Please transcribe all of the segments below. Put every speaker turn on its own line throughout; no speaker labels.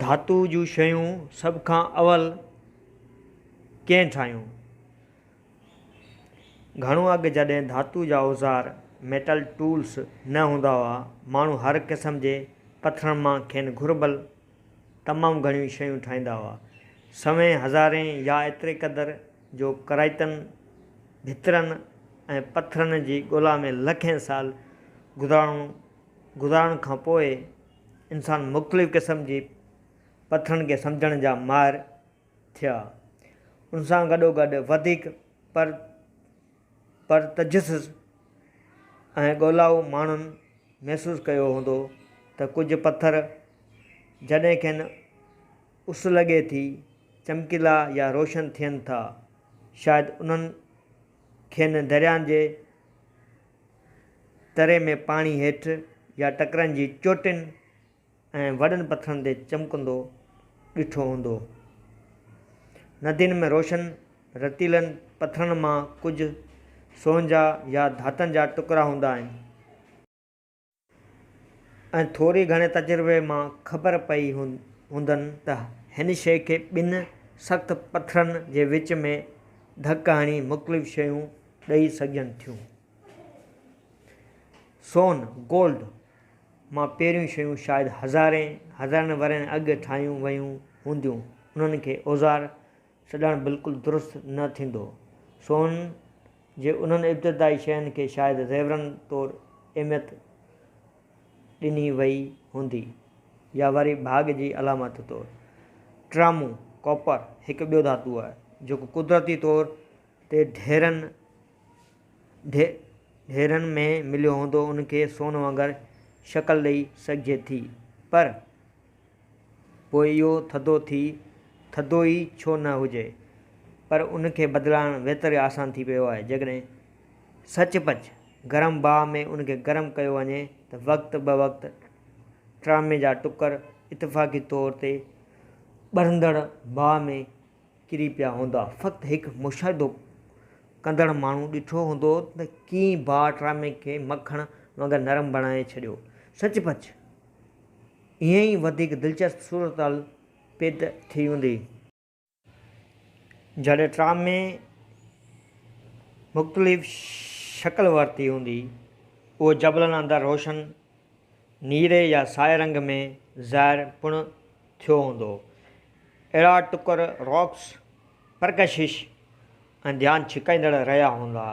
ڌاتوء جون شيون سڀ کان اول ڪنهن ٺاهيون؟ گهڻو اڳ جڏهن ڌاتوء جا اوزار، Metal Tools، نه هوندا هئا، ماڻهو هر قسم جي پٿرن مان کين گهربل تمام گهڻيون شيون ٺاهيندا هئا. سوين، هزارين يا ايتري قدر جو ڪرائتن، ڀترن ۽ پٿرن جي ڳولا ۾ لکين سال گذارڻو گذارڻ کان پوء انسان مختلف قسم جي پٿرن کي سمجهڻ جا ماهر ٿيا. ان سان گڏوگڏ وڌيڪ پر پرتجسس ۽ ڳولائو ماڻهن محسوس ڪيو هوندو ته ڪجهه پٿر جڏهن کين اس لڳي ٿي چمڪيلا يا روشن ٿين ٿا شايد انهن کين درياهن جي تري ۾ پاڻي هيٺ يا ٽڪرن جي چوٽين ۽ وڏن پٿرن تي چمڪندو ڏٺو هوندو. ندين ۾ روشن رتيلن پٿرن مان ڪجهه سونهن جا يا ڌاتن جا ٽڪرا هوندا آهن. ۽ ٿوري گهڻي تجربي مان خبر پئي هوندن ته هن شيء کي ٻن سخت پٿرن جي وچ ۾ ڌڪ هڻي مختلف شيون ڏئي سگهجن ٿيون. سون، Gold، مان پهريون شيون شايد هزارين ورهين اڳ ٺاهيون ويون هونديون، انهن کي اوزار، سڏڻ بلڪل درست نه ٿيندو. سون جي انهن ابتدائي شين کي شايد زيورن طور اهميت ڏني وئي هوندي يا وري ڀاڳ جي علامت طور. ٽرامون، ڪاپر، هڪ ٻيو ڌاتو آهي، جيڪو قدرتي طور تي ڍيرن ڍيرن ۾ مليو هوندو ان کي سون وانگر شڪل ڏئي سگهجي ٿي پر پوء اهو ٿڌو ٿي ٿڌو ئي ڇو نه هجي پر ان کي بدلائڻ ويتر آسان ٿي پيو آهي. جيڪڏهن سچ پچ گرم باهه ۾ ان کي گرم ڪيو وڃي ته وقت به وقت ٽرامي جا ٽڪر اتفاقي طور تي ٻرندڙ باهه ۾ ڪري پيا هوندا. فقط هڪ مشاهدو ڪندڙ ماڻهو ڏٺو هوندو ته ڪيئن باهه ٽرامي کي مکڻ وانگر نرم بڻائي ڇڏيو. سچ پچ! ائين ئي وڌيڪ دلچسپ صورتحال پيد ٿي ويندي. جڏهن ٽرام ۾ مختلف شڪل ورتي هوندي، اهو جبلن اندر روشن نيري يا سائي رنگ ۾ ظاهر پڻ ٿيو هوندو. اهڙا ٽڪر، Rocks، پرڪشش، ۽ ڌيان ڇڪائيندڙ رهيا هوندا.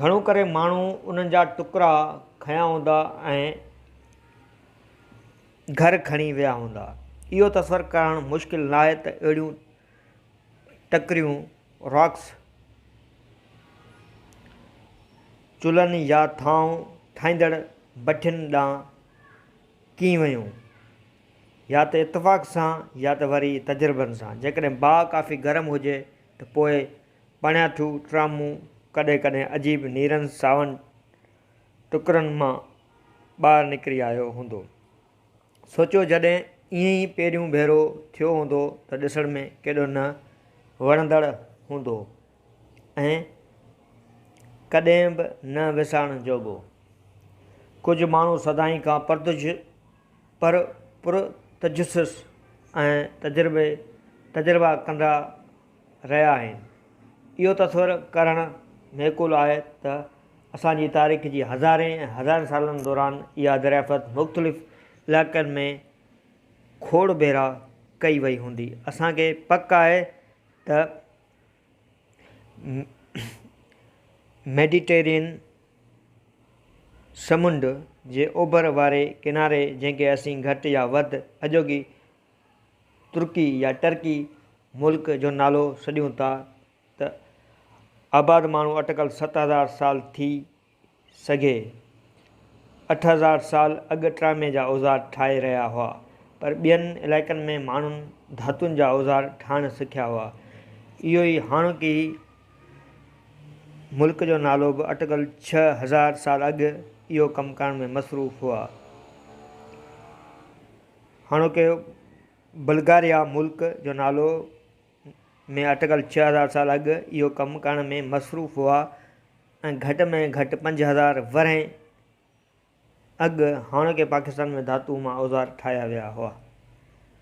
گهڻو ڪري ماڻهو انهن جا ٽڪرا کنيا هوندا ۽ گهر کڻي ويا هوندا. اهو تصور ڪرڻ مشڪل ناهي ته اهڙيون ٽڪريون، Rocks، چلهن يا ٿانو ٺاهيندڙ ڀٺين ڏانهن ڪيئن ويون. يا ته اتفاق سان يا ته وري تجربن سان. جيڪڏهن باهه ڪافي گرم هجي ته پوء پڻياٺو ٽرامون ڪڏهن ڪڏهن عجيب نيرن ساون ٽڪرن مان ٻاهر نڪري آيو هوندو. سوچيو جڏهن ائين ئي پهريون ڀيرو ٿيو هوندو ته ڏسڻ ۾ ڪيڏو نه وڻندڙ هوندو ۽ ڪڏهن به نه وسارڻ جوڳو. ڪجهه ماڻهو سدائين کان پرتج. پر پر تجسس ۽ تجربي تجربا ڪندا رهيا آهن. اهو تصور ڪرڻ معقول آهي ته اسان جي تاريخ جي هزارين ۽ هزارين سالن دوران اها دريافت مختلف علائقن ۾ کوڙ ڀيرا ڪئي وئي هوندي. اسان کي پڪ آهي ته. ميڊيٽرينين سمنڊ جي اوڀر واري ڪناري جنهن کي اسين گهٽ يا وڌ اڄوڪي ترڪي يا ٽرڪي ملڪ جو نالو سڏيون ٿا ته آباد ماڻهو اٽڪل ست هزار سال ٿي سگهي. اٺ هزار سال اڳ ٽرامي جا اوزار ٺاهي رهيا هئا، پر ٻين علائقن ۾ ماڻهن ڌاتن جا اوزار ٺاهڻ سکيا هئا. اهو ئي هاڻوڪي ملڪ جو نالو به اٽڪل ڇهه هزار سال اڳ اهو ڪم ڪرڻ ۾ مصروف هئا. هاڻوڪي بلغاريا ملڪ جو نالو ۾ اٽڪل ڇهه هزار سال اڳ اهو ڪم ڪرڻ ۾ مصروف هئا ۽ گهٽ ۾ گهٽ پنج هزار ورهين اڳ هاڻوڪي پاڪستان ۾ ڌاتوء مان اوزار ٺاهيا ويا هئا.